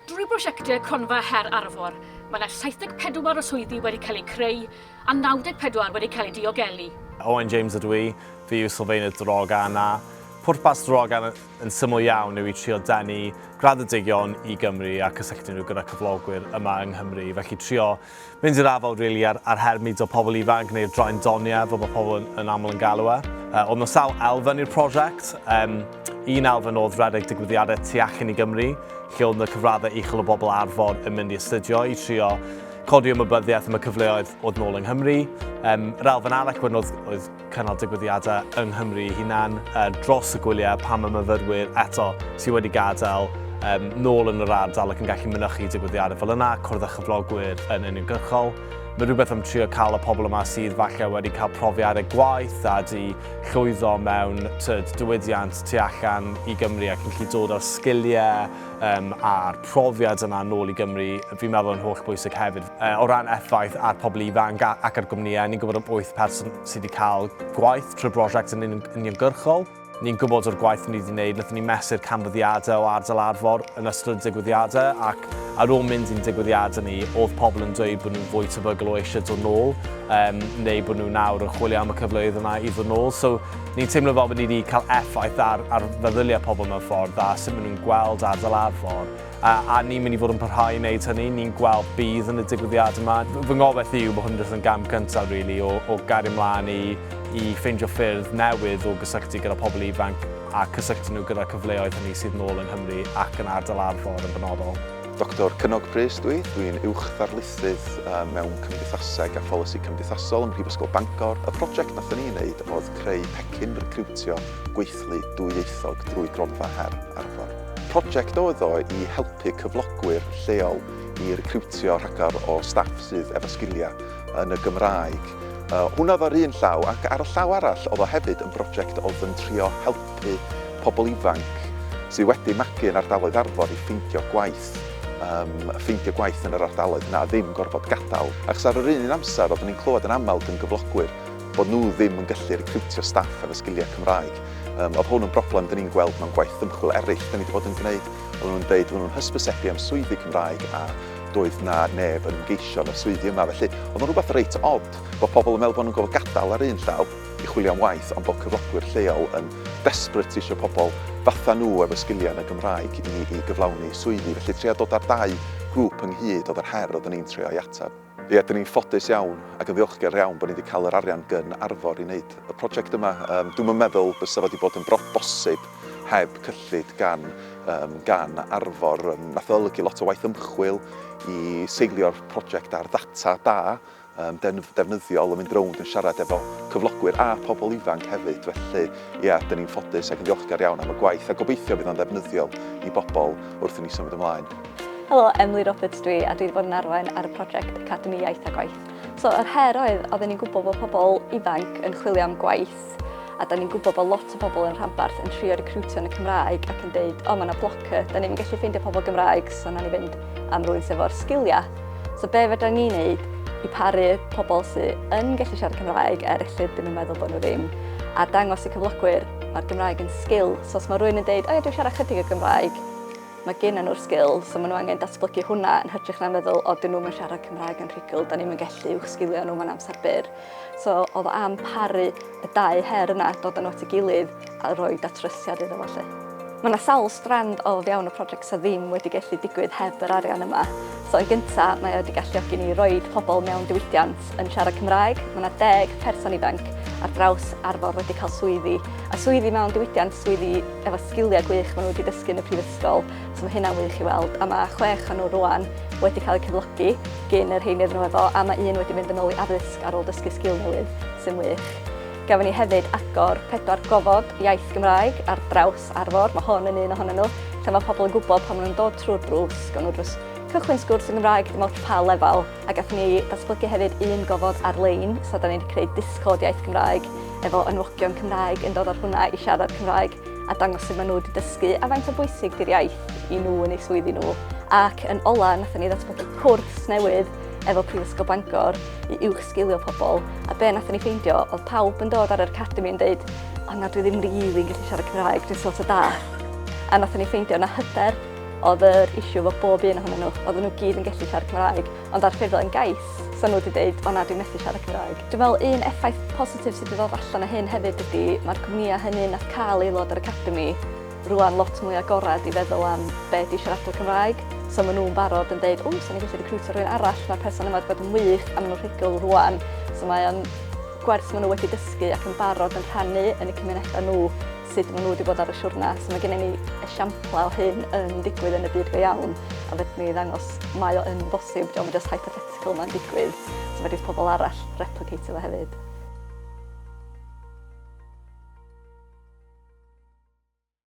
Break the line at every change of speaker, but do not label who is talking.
Drwy brosiectau Cronfa Her Arfor, mae yna 74 o swyddi wedi cael eu creu a 94 wedi cael eu diogelu. Owen James ydw
i, fi yw sylfaenydd Drogan-A. Pwrpas Drogan yn syml iawn yw i trio denu graddedigion i Gymru a cysylltu nhw gyda cyflogwyr yma yng Nghymru, felly trio Mynd i'r afael rili â'r â'r her mudo pobl ifanc neu'r draen doniau fel mae pobl yn yn aml yn galw e. Yy oedd 'na sawl elfen i'r prosiect. Yym un elfen oedd rhedeg digwyddiadau tu allan i Gymru lle oedd 'na cyfraddau uchel o bobl Arfor yn mynd i astudio i trio codi ymwybyddiaeth am y cyfleoedd oedd nôl yng Nghymru. Yym yr elfen arall wedyn oedd oedd cynnal digwyddiadau yng Nghymru ei hunan dros y gwyliau pan mae myfyrwyr eto sydd wedi gadael um, nôl yn yr ardal ac yn gallu mynychu digwyddiadau fel yna, cwrdd â chyflogwyr yn uniongyrchol. Mae rhywbeth am trio cael y pobl yma sydd falle wedi cael profiadau gwaith a di llwyddo mewn tyd, diwydiant tu allan i Gymru ac yn gallu dod â'r sgiliau um, a'r profiad yna nôl i Gymru, fi'n meddwl yn holl bwysig hefyd. Uh, o ran effaith ar pobl ifanc ac ar gwmnïau, ni'n gwybod am 8 person sydd wedi cael gwaith trwy brosiect yn uniongyrchol. Ni'n gwybod o'r gwaith ni wedi gwneud, nath ni mesur canfyddiadau o ardal arfor yn ystod y digwyddiadau ac ar ôl mynd i'n digwyddiadau ni, oedd pobl yn dweud bod nhw'n fwy tebygol o eisiau dod nôl um, neu bod nhw nawr yn chwilio am y cyfleoedd yna i ddod nôl. So, Ni'n teimlo fel bod ni wedi cael effaith ar, ar feddyliau pobl mewn ffordd a sut maen nhw'n gweld ardal Arfor. A, a ni'n mynd i fod yn parhau i wneud hynny, ni'n gweld bydd yn y digwyddiad yma. Fy ngobaith i yw bod hwn jyst yn gam cyntaf, really, o, o gario mlaen i, i ffeindio ffyrdd newydd o gysylltu gyda pobl ifanc a cysylltu nhw gyda'r cyfleoedd hynny sydd nôl yng Nghymru ac yn ardal Arfor yn benodol. Doctor Cynog
Prys dwi, dwi'n Uwch Ddarlithydd mewn Cymdeithaseg a Pholisi Cymdeithasol ym Mhrifysgol Bangor. Y project nathon ni wneud oedd creu pecyn recriwtio gweithlu dwyieithog drwy gronfa her Arfor. Project oedd o i helpu cyflogwyr lleol i recriwtio rhagor o staff sydd efo sgilia yn y Gymraeg. Hwnna oedd o ar un llaw ac ar y llaw arall oedd o hefyd yn broject oedd yn trio helpu helpu pobl ifanc sydd wedi magu yn ardaloedd Arfon i ffeindio gwaith, um, ffeindio gwaith yn yr ardaloedd na ddim gorfod gadael. Ac ar yr un amser, oeddwn ni'n clywed yn aml gan gyflogwyr bod nhw ddim yn gallu recriwtio staff efo sgiliau Cymraeg. Um, oedd hwn yn broblem dyn ni'n gweld mewn gwaith ymchwil eraill dyn ni wedi bod yn gwneud. Oedden nhw'n dweud, oedden nhw'n hysbysebu am swyddi Cymraeg a doedd na neb yn geisio na swyddi yma. Felly, oedd yn rhywbeth reit odd bod pobl yn meddwl bod nhw'n gofod gadael ar un llaw, i chwilio am waith ond bod cyflogwyr lleol yn desperate isio pobl fatha nhw efo sgiliau yn y Gymraeg i i gyflawni swyddi felly trio dod â'r dau grŵp ynghyd oedd yr her oedden ni'n trio ei ateb. Ie, dan ni'n ffodus iawn ac yn ddiolchgar iawn bod ni wedi cael yr arian gyn Arfor i wneud y project yma. Yym, dwi'm yn meddwl bysa fo wedi bod yn bro- bosib heb cyllid gan yym gan Arfor. Yym, nath o olygu lot o waith ymchwil i seilio'r project ar ddata da yn ddefnyddiol yn mynd rownd yn siarad efo cyflogwyr a pobl ifanc hefyd felly ia 'dyn ni'n ffodus ac yn ddiolchgar iawn am y gwaith a gobeithio bydd o'n ddefnyddiol i bobl wrth i ni symud ymlaen. Helo, Emily
Roberts dwi a dwi wedi bod yn arwain ar y project Academi Iaith a Gwaith. So yr her oedd, oedden ni'n gwybod bod pobl ifanc yn chwilio am gwaith Cymraes. A 'dan ni'n gwybod bod lot o bobl yn rhanbarth yn trio recriwtio yn y Cymraeg ac yn deud, o mae yna blocker, 'dan ni'm yn gallu ffeindio pobl Gymraeg, so wnawn ni fynd am rwy'n sydd efo'r sgiliau. So be fedra ni wneud i paru pobl sydd yn gallu siarad Cymraeg er lle ddim yn meddwl bod nhw ddim, a dangos i cyflogwyr mae'r Gymraeg yn sgil, so os mae rwy'n yn deud, o dwi'n siarad chydig o Gymraeg, mae gen nhw'r sgil, so maen nhw angen datblygu hwnna yn hytrach na meddwl, o dyn nhw'n siarad Cymraeg yn rhugl, 'dan ni'm yn gallu uwch sgilio nhw mewn amser byr. So oedd o am paru y dau her yna, dod yn nhw at ei gilydd a rhoi datrysiad iddo fo 'lly. Mae 'na sawl strand o fewn y project sydd ddim wedi gallu digwydd heb yr arian yma. So yn gynta, mae o wedi galluogi ni roid pobl mewn diwydiant yn siarad Cymraeg. Mae 'na deg person ifanc ar draws Arfor wedi cael swyddi, a swyddi mewn diwydiant, swyddi efo sgiliau gwych maen nhw wedi dysgu yn y prifysgol. So mae hynna'n wych i weld, a mae chwech o nhw rwan wedi cael eu cyflogi gyn yr rheiny ddyn nhw efo, a mae un wedi mynd yn ôl i addysg ar ôl dysgu sgil newydd, sy'n wych. Gafon ni hefyd agor pedwar gofod iaith Gymraeg ar draws Arfor, mae hon yn un ohonyn nhw, lle mae pobl yn gwybod pan maen nhw'n dod trwy'r drws, gawn nhw drws cychwyn sgwrs yn Gymraeg dim ots pa lefel, a gath ni datblygu hefyd un gofod ar-lein, so da ni wedi creu Discord iaith Gymraeg efo enwogion Cymraeg yn dod ar hwnna i siarad Cymraeg. a dangos sut maen nhw wedi dysgu a faint o bwysig di'r iaith i nhw yn eu swyddi nhw. Ac yn ola, nath ni ddatblygu cwrs newydd efo Prifysgol Bangor i uwch sgilio pobl, a be nath ni ffeindio oedd pawb yn dod ar yr academi yn dweud, o na, dwi ddim rili'n yn gallu siarad Cymraeg, dwi'n sort o da. A nath ni ffeindio na hyder oedd yr issue efo bob un ohonyn nhw, oedden nhw gyd yn gallu siarad Cymraeg, Ond ar ffurflen gais, 'sa nhw 'di deud, 'o na, dwi methu siarad Cymraeg'. Dwi'n meddwl un effaith positif sydd 'di ddod allan o hyn hefyd ydi, ma'r cwmnïau hynny nath ca'l aelod o'r academi rŵan lot mwy agored i feddwl am be' 'di siaradwr Cymraeg, so ma' nhw'n barod yn deud, 'ww, 'sa ni'n gallu recriwtio rhywun arall, ma'r person yma 'di bod yn wych' a ma' nhw'n rhugl rŵan. So mae o'n gwers ma' nhw wedi dysgu ac yn barod yn rhannu yn y cymunedau nhw. sut maen nhw wedi bod ar y siwrna. So mae gennym ni esiamplau o hyn yn digwydd yn y byd go iawn, a fedrwn ni ddangos mae o yn bosib, diolch yn just hypothetical mae'n digwydd, so fedrith pobl arall replicate fo hefyd.